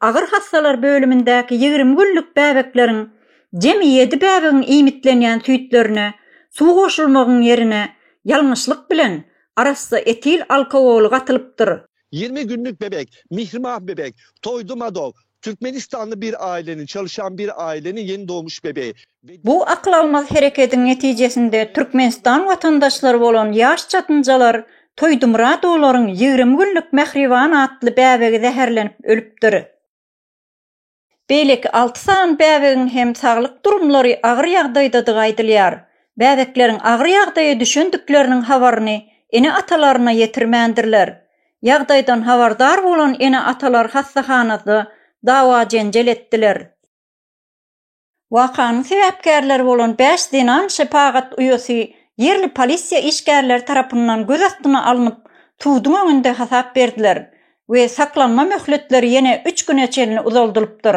Agyr hassalar bölümindäki ýigrimi günlük bäbekleriň jemi ýedi bäbegiň iýmitlenýän süýtlerine suw goşulmagyň ýerine ýalňyşlyk bilen arassa etil alkogoly gatylypdyr. Ýigrimi günlük bebek, Mihrimah bebek, Toýdy Madog, türkmenistanly bir aileniň, çalyşan bir aileniň ýeni dogmuş bebeği. Bu akyl almaz herekediň netijesinde Türkmenistan watandaşlary bolan ýaş çatynjalar Toýdumyradowlaryň ýigrimi günlük Mähriban atly bäbegi zäherlenip ölüpdir. Beýleki alty sany bäbegiň hem saglyk durumlary agyr ýagdaýdadygy aýdylýar. Bäbekleriň agyr ýagdaýa düşendikleriniň habaryny ene-atalaryna ýetirmändirler. Ýagdaýdan habardar bolan ene-atalar hassahanada dawa-jenjel etdiler. Wakanyň sebäpkärleri bolan bäş zenan şepagat uýasy ýerli polisiýa işgärleri tarapyndan göz astyna alnyp, suduň öňünde hasap berdiler we saklanma möhletleri ýene üç güne çenli uzaldylypdyr.